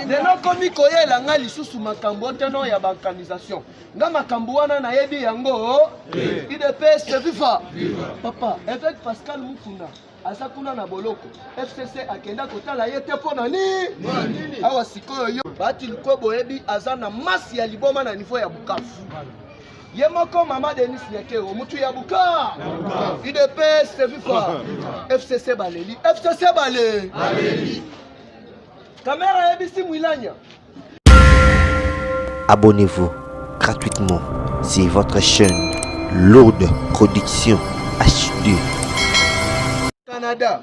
lelo komi koyela ngai lisusu makambo oteno ya balkanisation nga makambo wana nayebi yango idps viva papa eveke pascal mukuna aza kuna na boloko fcc akenda kotala ye te mpo na nini awa sikoyo yo bati likobo oyebi aza na masi ya liboma na nivo ya bukavu ye moko mama denis nyakero mutu ya buka udps viva fcc baleli fcc bale kamera ayebisi mwilanya abonnez-vous gratuitement c'est votre chaîne lourde production hd canada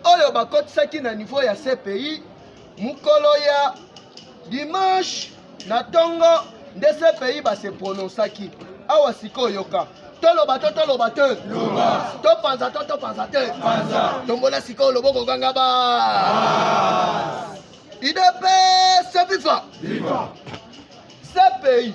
oyo bakotisaki na niveau ya cpi mokolo ya dimanche na ntongo nde cpi base prononsaki awa sikoyo yoka toloba to toloba te topanza to topanza te tombola sikoyo loboko ganga ba idps viva cpi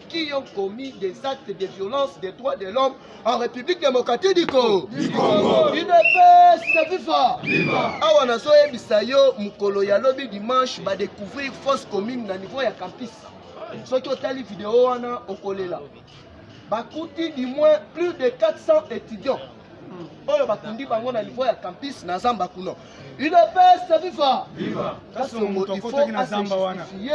qui ont commis des actes de violence des droits de l'homme en République démocratique du Congo. Du Congo. UDPS, viva. Viva. Awa na soye bisayo mukolo ya lobi dimanche ba découvrir fausse commune na niveau ya campus. Soki otali vidéo wana okolela. Bakuti du moins plus de 400 étudiants oyo bakundi bango na niveau ya campus na zamba kuno udps viva kasongo il faut asejustifie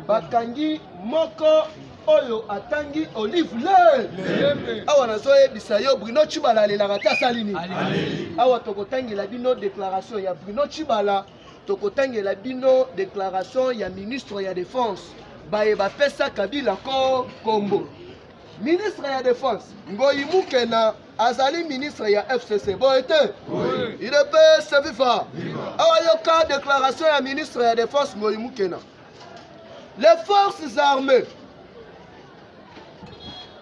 bakangi moko oyo atangi olive le awa nazoyebisa yo bruno chibala alelaka te asali nini awa tokotangela bino déclaration ya bruno chibala tokotangela bino déclaration ya ministre ya défense baye bapesa kabila ko kombo ministre ya defense ngoyi mukena azali ministre ya fcc boye te udps viva awa yoka déclaration ya ministre ya defense ngoyi mukena les forces armées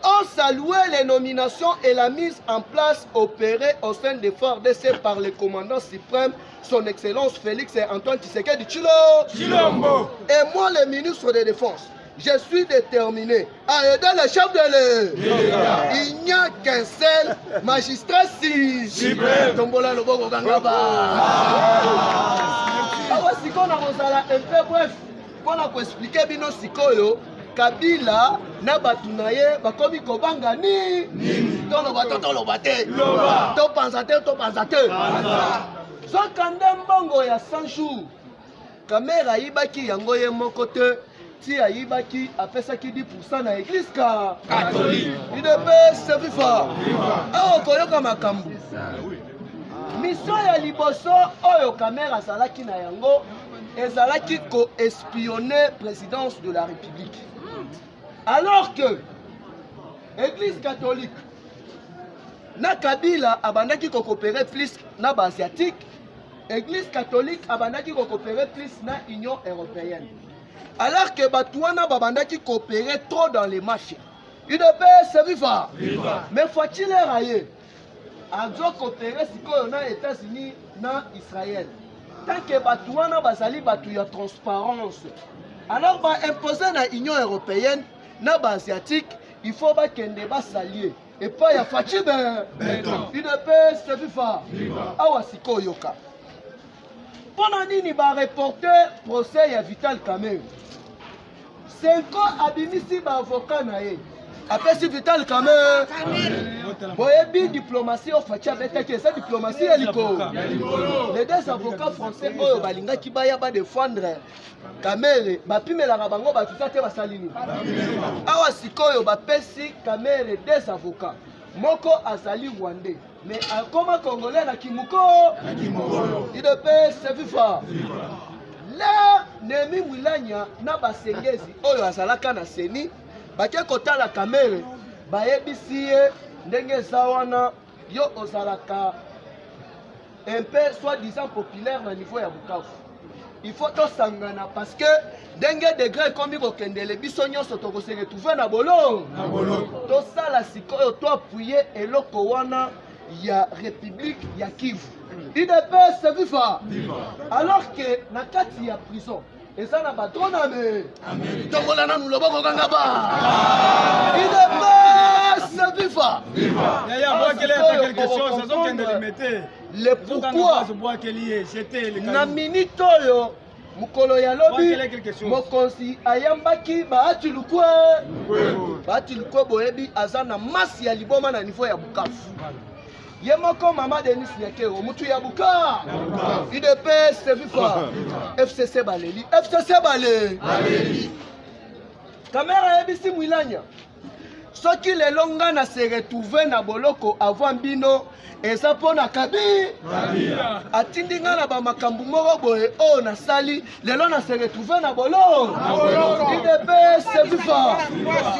ont salué les nominations et la mise en place opérée au sein des forts DC par le commandant suprême, son Excellence Félix et Antoine Tshisekedi Chilo. Chilombo. Et moi, le ministre de Défense, Je suis déterminé à aider le chef de l'État. Il n'y a qu'un seul magistrat si suprême. Tombola le bogo gangaba. Awa siko na kozala un peu bref mpo na koexplike bino sikoyo kabila na bato na ye bakomi kobanga nini toloba to toloba te topanza te topanza te zokande mbongo ya 100 jours Kamera ayibaki yango ye moko te ti ayibaki apesaki 10% na eglise ka catholique idepese viva awa okoyoka makambo misio ya liboso oyo kamera azalaki na yango ezalaki koespionne présidence de la république alors que église catholique na kabila abandaki kokopere plus na baasiatique Eglise catholique abandaki ko coopérer plus na Union européenne. Alors que bato wana babandaki coopérer trop dans les marchés. UDPS viva! Viva! Mais Fatshi leur aye azo coopérer sikoyo na États-Unis na Israël. Tant que bato wana bazali bato ya transparence. Alors ba imposer na Union européenne na ba asiatique il faut bakende basalie epai ya faci be udps tefifa awa sikoyo yoka mpo na nini bareporte procès ya vital kamerhe senko abimisi baavoka na ye apesi vital kamerhe boyebi diplomatie oyo faci abetaki eza diplomatie ya likolo les deux avocats français oyo balingaki baya badefendre kamere bapimelaka bango bato ta te basali nini awa sikoyo bapesi kamere des avocats moko azali rwandais mais akoma congolais na kimoko idps viva le nemi mwilanya na basengezi oyo azalaka na seni bake kotala kamere bayebisi ye ndenge eza wana yo ozalaka un peu soit disant populaire na niveau ya bukavu il faut tosangana parce que ndenge degre ekomi kokendele biso nyonso tokose retrouve na bolo tosala sikoyo toapuye eloko wana ya république ya kivu udps viva alors que na kati ya prison eza na batrona be tokola nanu loboko kanga ba idepese viva yaya bwakele ata quelque chose azokende limete le pourquoi na minute oyo mokolo ya lobi mokonzi ayambaki bahati lukwe bahati lukwe boyebi aza na masi ya liboma na niveau ya bukavu ye moko mama denis nyakero mutu ya buka udps viva fcc baleli fcc bale kamera ayebisi mwilanya soki lelo nga na se retrouve na boloko avant bino eza mpo na kabi atindi nga na bamakambo moko boye oyo nasali lelo na se retrouve na boloko idps viva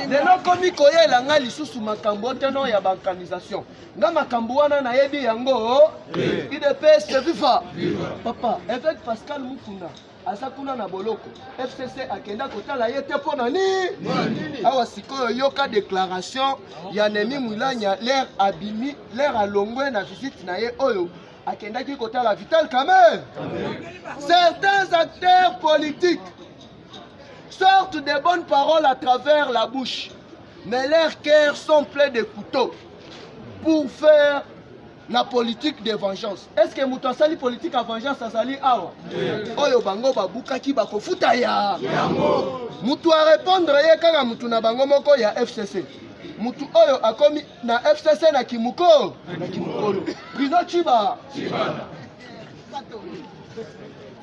lelo komi koyela nga lisusu makambo oteno ya baorganisation nga makambo wana nayebi yango udps viva papa évêque pascal mukuna aza kuna na boloko fcc akenda kotala ye te mpo na nini awa sikoyo yoka déclaration ya nemi mwilanya lere abimi lere alongwe na visite na ye oyo akendaki kotala vital kamer certains acteurs politiques sortent de bonnes paroles à travers la bouche mais leurs cœurs sont pleins de couteaux pour faire la politique de vengeance est ce que moto asali politique ya vengeance azali awa oyo bango babukaki bakofuta ya moto arépondre ye kaka moto na bango moko ya fcc moto oyo akomi na fcc na kimoko na kimokolo bruno ciba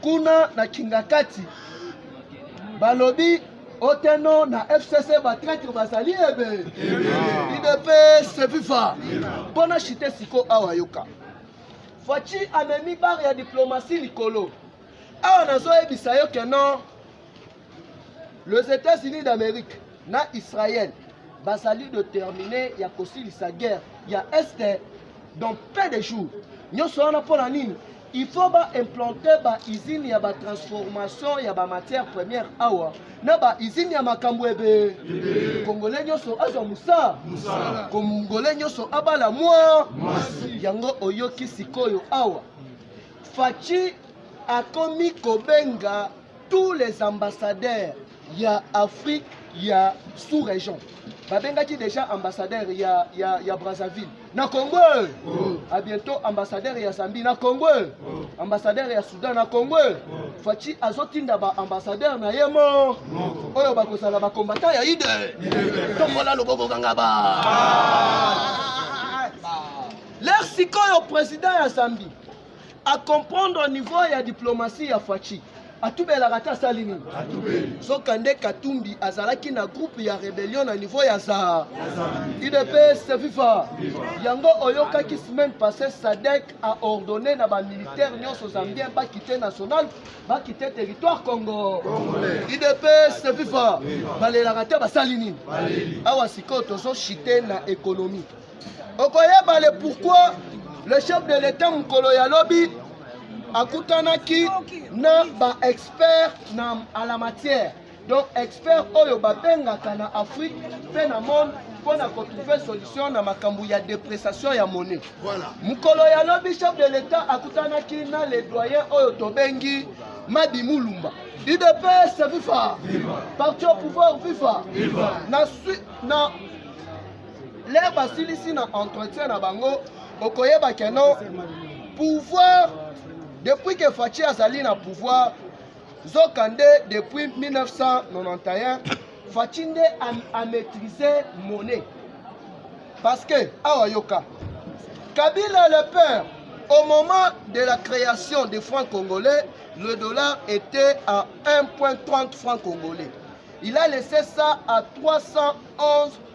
Kuna na Kingakati balobi oteno na fcc batraitre bazali ebe udps viva mpo na shite siko awa yoka faci amemi bare ya diplomatie likolo awa nazoyebisa yo keno Les États-Unis d'Amérique na Israël basali de terminer ya kosilisa guerre ya est dans peu de jours nyonso wana mpo na nini il faut baimplanter baizine ya batransformation ya bamatière première awa na baizine ya makambo ebe kongole nyonso azwa mosala kongole nyonso abala mwa yango oyoki sikoyo awa faci akomi kobenga tous les ambassadeurs ya afrique ya sous région babengaki déjà ambassadeur ya, ya, ya brazzaville na congo oh. a bientôt ambassadeur ya zambie na congo oh. ambassadeur ya soudan na congo oh. faci azotinda baambassadeur na ye mo oyo bakozala bakombata ya ide tombola loboko kanga ba ah. ler sikoyo président ya zambie a comprendre niveau ya diplomatie ya Fatshi atubelaka te asali nini soka nde katumbi azalaki na groupe ya rebellion na niveau ya za udps viva yango oyokaki semaine passée sadek a ordonné na bamilitaire nyonso zambien bakite national bakite territoire congo udps viva balelaka te basali nini awa sikoyo tozoshite na économie okoyeba le pourquoi le chef de l'etat mokolo ya lobi akutanaki na baexpert na à la matière donc expert oyo babengaka na afrique mpe na monde mpo na kotrouve solution na makambo ya depressation ya monnaie voilà. mokolo ya lobi chef de l'etat akutanaki na le doyen oyo tobengi madi mulumba udps viva parti au pouvoir viva, viva. na, na lere basilisi na entretien na bango okoyeba ke non pouvoir depuis ke faci azali na pouvoir zoka nde depuis 1991 faci nde amaîtrise monnaie parce que awa yoka kabila le père au moment de la création des francs congolais le dollar était à 1.30 francs congolais il a laissé ça à 311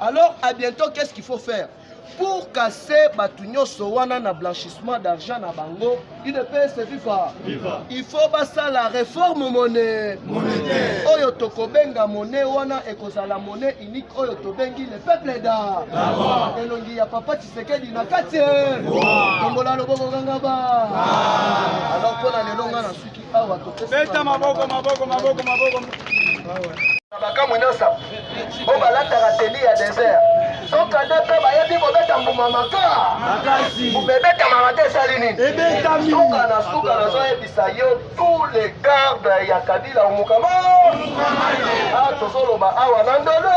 Alors, à bientôt, qu'est-ce qu'il faut faire pour casser bato nyonso wana na blanchissement d'argent na bango udps viva il faut basala réforme monnaie oyo tokobenga monnaie wana ekozala monnaie unique oyo tobengi le peuple da elongi ya papa tshisekedi na kati tombola loboko kangaba alors mpo na lelo nga na suki beta maboko maboko maboko maboko makambo nyonso oyo balataka teni ya desert sokande mpe bayebi kobeta mbuma maka mbuma ebetamaka te esali nini suka na suka nazoyebisa yo tous les gardes ya kabila omokama ah, tozoloba awa na ndolo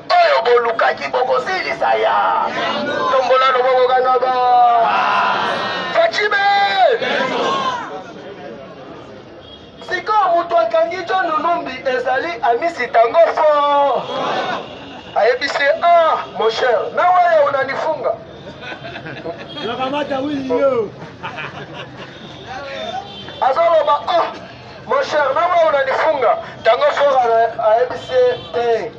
oyo bolukaki bokosilisa ya tombola loboko kaka ba facibe sikoyo moto akangi jo nunumbi ezali amisi tango fo ayebisi a ah, mon cher na waya unanifunga azoloba a ah, mon cher na waya unanifunga tango fo ayebisi te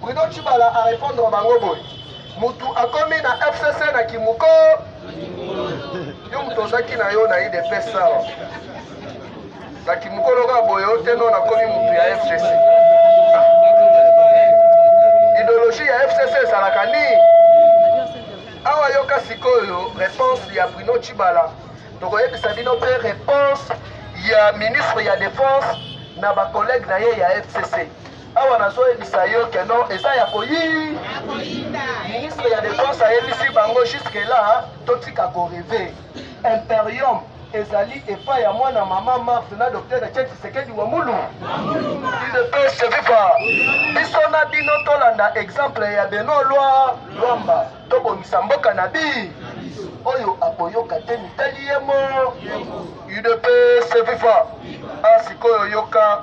Bruno Tshibala a répondre bango boye mutu akomi na FCC na kimuko yo mutu ozaki na yo na IDPS awa na kimuko loka boye yo te no nakomi mutu ya FCC ideologie ya FCC ezalaka nini awa yoka sikoyo réponse ya Bruno Tshibala tokoyebisa bino mpe réponse ya ministre ya défense na bacollègue na ye ya FCC Awa nazoyebisa yo que non eza ya koyi ministre ya defense ayebisi bango jusque là totika koreve imperium ezali epai ya mwana mama mars na docteur etienne tshisekedi wa mulu udps viva biso na bino tolanda exemple ya beno lwa lwamba tobongisa mboka na bi oyo akoyoka te mitali ye mo udps viva a ah, sikoyo yoka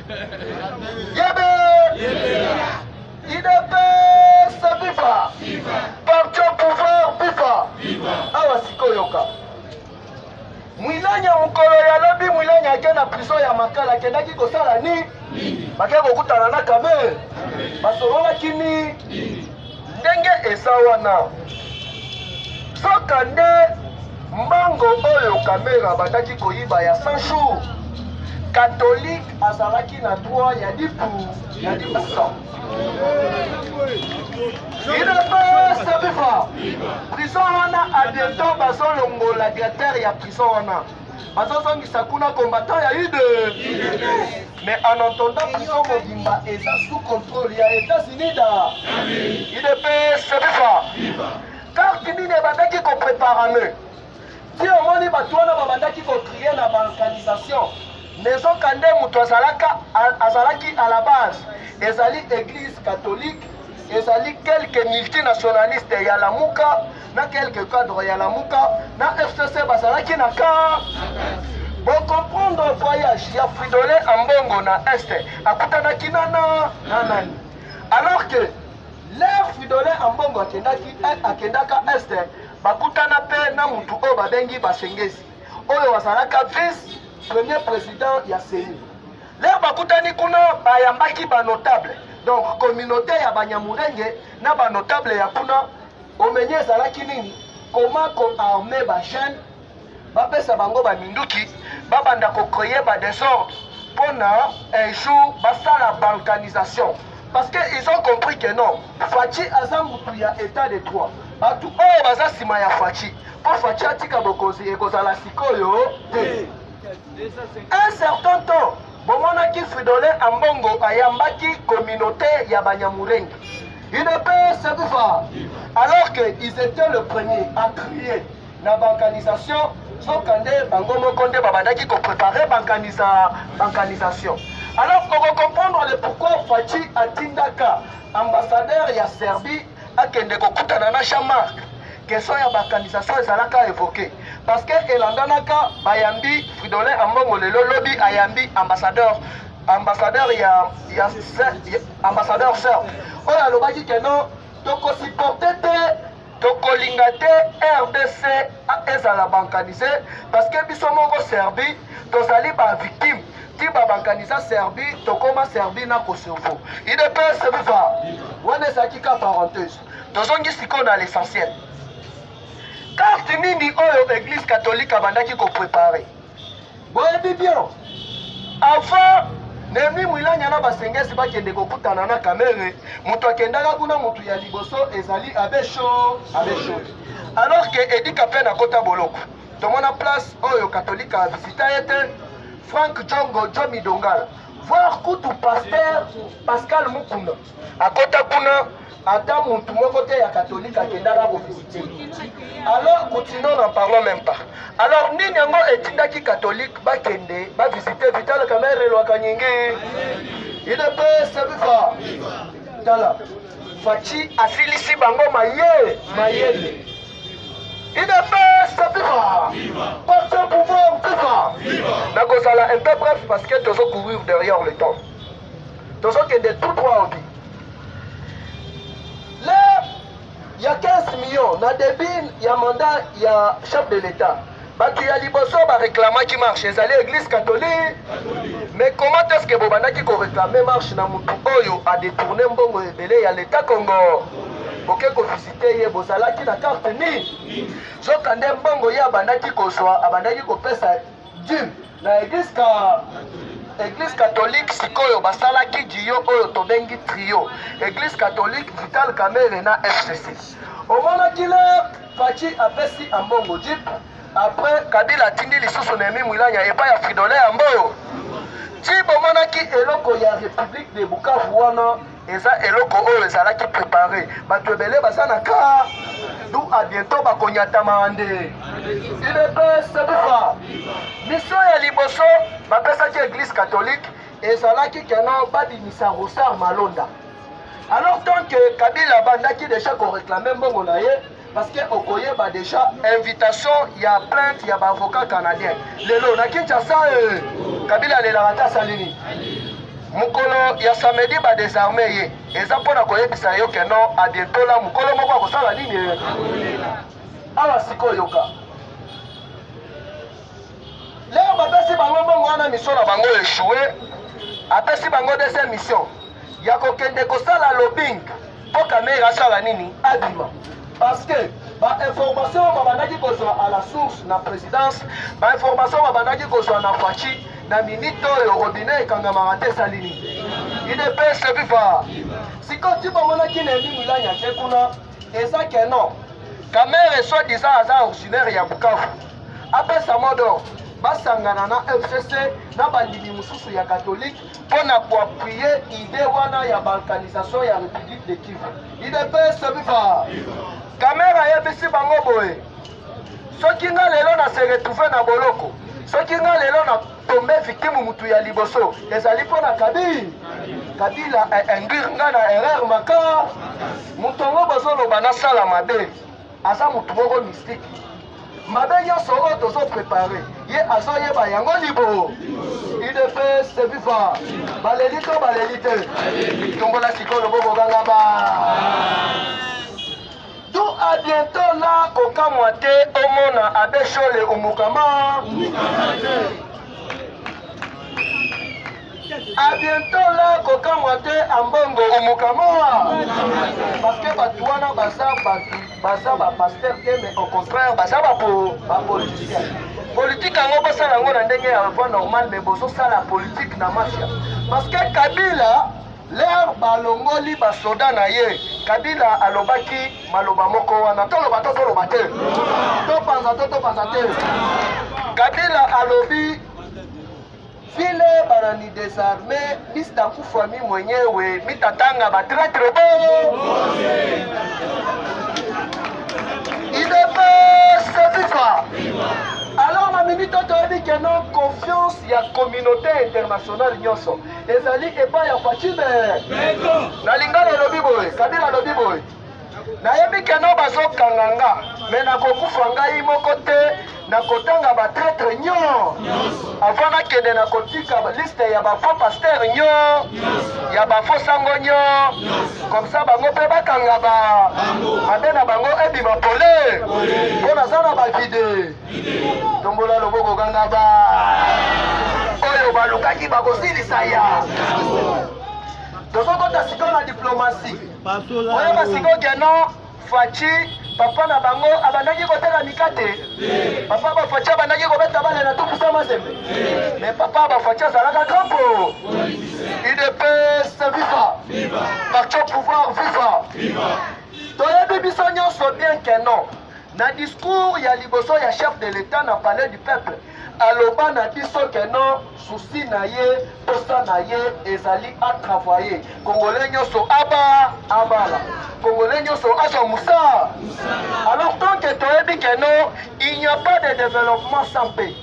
Yebe! Idepes viva! Parti au pouvoir viva! Awa sikoyoka. Mwilanya mokolo ya lobi Mwilanya ake na prison ya Makala akendaki kosala nini? Bakei kokutana na Kamerhe. Basololaki nini? ndenge eza wana soka nde mbango oyo kamera abandaki koyiba ya 100 jours katolike azalaki na droit ya lipu ya libusa idps viva prison wana abiento bazolongola directeur ya prison wana bazozongisa kuna combattant ya ide mais en entendant prison mobimba eza sous contrôle ya états-unis da idps sebifa karte nini ebandaki kopreparame ti omoni bato wana babandaki kotrie na balkanisation nezoka nde moto azalaki à la base ezali église catholique ezali quelque multinationaliste ya lamuka na quelque cadre ya lamuka na fcc bazalaki na ka bocomprendre voyage ya fridole ambongo na este akutanaki nana na nani alors que lere fridole ambongo akendaki akendaka este bakutana mpe na motu oyo babengi basengezi oyo azalaka vice premier président ya ceni lere bakutani kuna bayambaki banotable donc communauté ya banyamurenge na banotable ya kuna Omeni ezalaki nini? Comment ko armer ba jeunes, bapesa bango ba minduki, babanda ko créer ba desordre pona un jour basala balkanisation parce que ils ont compris que non Fatshi aza mutu ya état de droit. Batu oyo baza nsima ya Fatshi mpo Fatshi atika bokonzi ekozala sikoyo te. Un certain temps Bomonaki Fridolin Ambongo ayambaki communauté ya Banyamurenge. UDPS Kufa. Alors que ils étaient le premier à trier na balkanisation soka nde bango moko nde babandaki koprepare balkanisation alors okocomprendre le pourquoi faci atindaka ambassadeur ya serbie akende kokutana na jean marc question ya bakanisation ezalaka evoke parce que elandanaka bayambi fridolin ambongo lelo lobi ayambi ambassadeur ambassadeur ya, ya, ya ambassadeur sœur oyo alobaki ke non tokosiporte te tokolinga te rdc ezala bankanise parce que biso moko serbi tozali bavictime kiba bakanisa serbie tokoma serbie na kosovo idps viva wana ezalaki ka parenthese tozongi sikoyo na l'essentiel karte nini oyo eglise katolike abandaki koprepare boyebi bien avant nemi mwilanya na basengesi bakende kokutana na kamere moto akendaka kuna moto ya liboso ezali abesho abesho alors ke edika mpe nakota boloko tomona place oyo katolika avisita ye te frank jongo jomi dongala voir kutu paster pascal mukuna akota kuna ata mutu moko te ya katolika akendaka kovisite alors kutino na parlo même pas alors nini yango etindaki katolike bakende bavisite vital kamere elwaka nyingi idps viva tala faci asilisi bango maye mayele nakozala un peu bref parce que tozo courir derrière le temps tozokende tout droit obi le ya 15 millions na début ya mandat ya chef de l'état bato ya liboso bareklamaki marche ezali eglise catholique mais comment est ce que bobandaki koreklame marche na motu oyo adetourne mbongo ebele ya leta congo boke kovisite ye bozalaki na karte nini soka nde mbongo ye abandaki kozwa abandaki kopesa dime na eglise ka eglise catholique sikoyo basalaki jiyo oyo tobengi trio eglise catholique vital kamere na fcc omonaki le faci apesi ambongo jip après kabila atindi lisusu na emi mwilanya epai ya fridole ya mboyo ti bomonaki eloko ya république de bukavu wana eza eloko oyo ezalaki prepare bato ebele baza na kaa du a bientôt bakonyatama nde udps viva miso ya liboso bapesaki eglise catholique ezalaki keno babimisa rosar malonda alors tant que kabila abandaki deja koreklame mbongo na ye parce que okoyeba déjà invitation ya plainte ya baavocat canadien lelo na kinshasa eh, kabila alelaka ata asali nini mokolo ya samedi badesarme ye eza mpo na koyebisa yo ke non adetola mokolo moko akosala nini eh? awa sikoyoka leo bapesi bango mbongo wana mission na bango echoue apesi bango deuxième mission ya kokende kosala lobing mpo kamere asala nini abima parce que bainformation oyo babandaki kozwa à la source na présidence bainformation oyo babandaki kozwa na faci na minite oyo robinet ekangamaka te esali nini idps viva sikoyo ti bamonaki na emi milani ake kuna eza que non kamere soit disant aza originaire ya bukavu apesa modo basangana na fcc na bandimi mosusu ya katolike mpo na koappuye ide wana ya balkanisation ya république de kivu idps viva kamere ayebisi bango boye soki nga lelo na se retrouve na boloko soki nga lelo na tombe victime mutu ya liboso ezali mpo na kabila kabila induire eh, eh, nga na erreur maka moto yango bozoloba nasala mabe aza motu moko mystique mabe nyonso oyo tozo prepare ye azoyeba yango libo udps de viva baleli to baleli te tombola sikoyo loboko gangaba D'où à bientôt là kokamwa te omona abe shole umukama à bientôt là kokamwa te ambongo umukama parce que bato wana baza bato baza bapaster te mais au contraire baza bapoliticien politike yango bosala yango na ndenge ya voie normale mais bozosala politike na mafia parce que kabila Lors balongoli basoda na ye, Kabila alobaki maloba moko wana, toloba to toloba te, topanza to topanza te. Kabila alobi vile banani desarme Mr. Kufwami mwenyewe mitatanga ba traitre bo idps viva alors na minute oyo toyebi keno confiance ya communauté internationale nyonso ezali epai ya fatime na lingala elobi boye kabila alobi boye nayebi keno bazokanga nga me nakokufa ngai moko te nakotanga batretre nyo avant nakende nakotika liste ya bafo paster nyo ya bafo sango nyo komsa bango mpe bakanga ba mabe na bango ebima pole mpo naza na bavide tombola loboko kanga ba oyo balukaki bakosilisa ya tozokota sikoyo na diplomasi oyeba sikoyo keno faci papa na bango abandaki kotela mikate papa bafaci abandaki kobeta bale na tukusa mazembe me papa bafaci azalaka kampo idps viva parti au pouvoir viva toyebi biso nyonso bien keno Na discours ya liboso ya chef de l'etat na palais du peuple aloba na biso ke non souci na ye posa na ye ezali atravaye kongole nyonso aba abala kongole nyonso azwa mosala alors tant ke toyebi ke non il n'y a pas de développement sans paix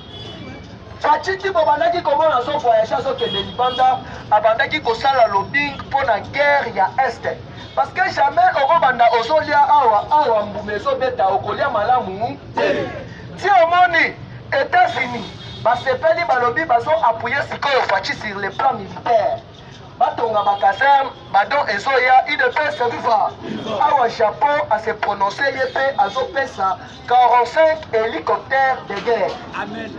fatshiti bobandaki komona azovoyage azokende libanda abandaki kosala lobing mpo na guerre ya este parce que jamais okobanda ozolia awa awa mbuma ezobeta okolia malamu te ti omoni états-unis basepeli balobi bazo appuye sikoyo faci sur le plan militaire batonga bakaserne badon ezoya udps viva awa japon ase prononce ye mpe azopesa 45 hélicoptères de guerre. Amen.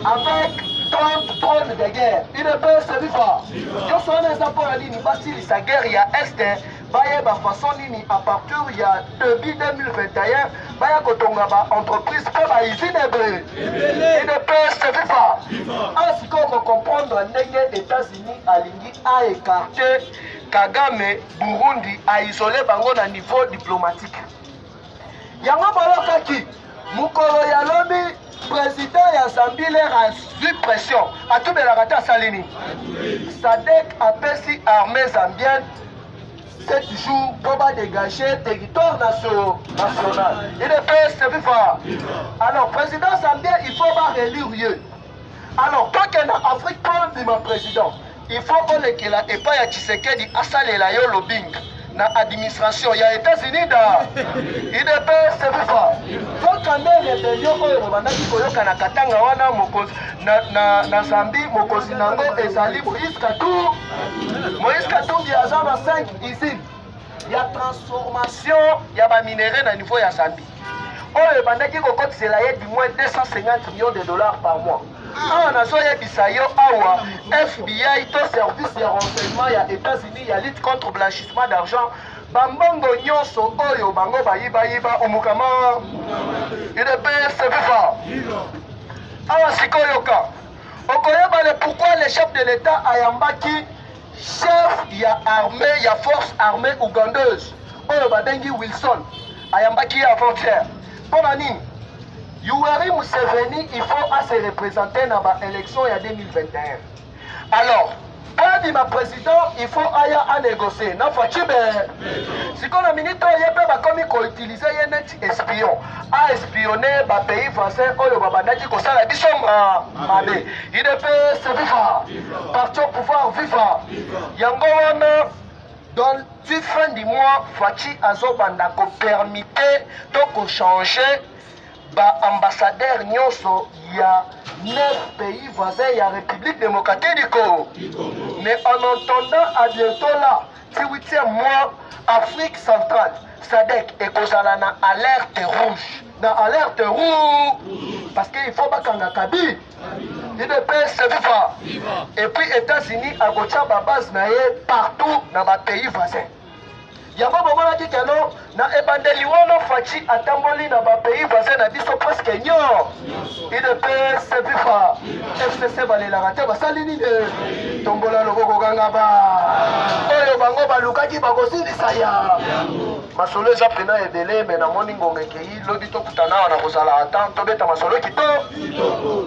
Avec 30 drones de guerre. Il ne peut se vivre. Yo sona eza mpo na nini basilisa guerre ya est bayeba façon nini à partir ya début 2021 baya kotonga ba entreprise mpe ba usine ebele. Il ne peut se vivre. A sikoyo kocomprendre ndenge États-Unis alingi a écarter Kagame Burundi a isoler bango na niveau diplomatique. yango boyokaki mokolo ya lobi président ya zambie lere azwi pression atubelaka te asali nini sadek apesi armée zambienne 7 jours mpo badégage territoire national idps viva alors président zambien il faut barélire ye alors kake na afrique mpo ondima président il faut olekela epai ya tshisekedi asalela yo lobing na administration ya etats-unis da idps viva yoka nde rebelio oyo bobandaki koyoka na katanga wana mokonzi na, na, na zambi mokonzi na yango ezali moïse katumbi moïse katumbi aza na 5 usine ya transformation ya baminerai na niveau ya zambi oyo ebandaki kokotisela ye du moins 250 millions de dollars par mois awa nazoyebisa yo awa fbi to service ya renseignement ya états-unis ya lutte contre blanchissement d'argent bambongo nyonso oyo bango bayibayiba omukama udps viva awa sikoyoka okoyeba le pourquoi le chef de l'état ayambaki Chef ya armée ya force armée ougandaise oyo babengi Wilson ayambaki ye avant-hier. Mpo na nini? Yoweri Museveni il faut à se représenter na ba élections ya 2021. Alors, kadi ma président il faut aya à négocier na Fatshi be. Sikoyo na minute oyo ye mpe bakomi ko utiliser ye neti espion a espionne ba pays voisins oyo babandaki kosala biso mabe udps viva parti au pouvoir viva yango wana donc ti fin du mois faci azobanda kopermite to kochange baambassadeur nyonso ya neuf pays voisins ya république démocratique du congo mais en entendant à bientôt là 18e mois afrique centrale sadek ekozala na alerte rouge na alerte rouge parce que il faut bakanga kabi idps viva et puis états-unis akotya babase na ye partout na bapays voisin yango bomonaki keno Na ebandeli wana Fatshi atamboli na ba pays voisins na biso presque nyor. UDPS viva. FCC balelaka te basali nini? Tombola loboko ganga ba. Oyo bango balukaki bakosilisa ya. Masolo eza pena ebele me namoni ngonga ekei lobi tokutana wana kozala ata tobeta masolo kitoko.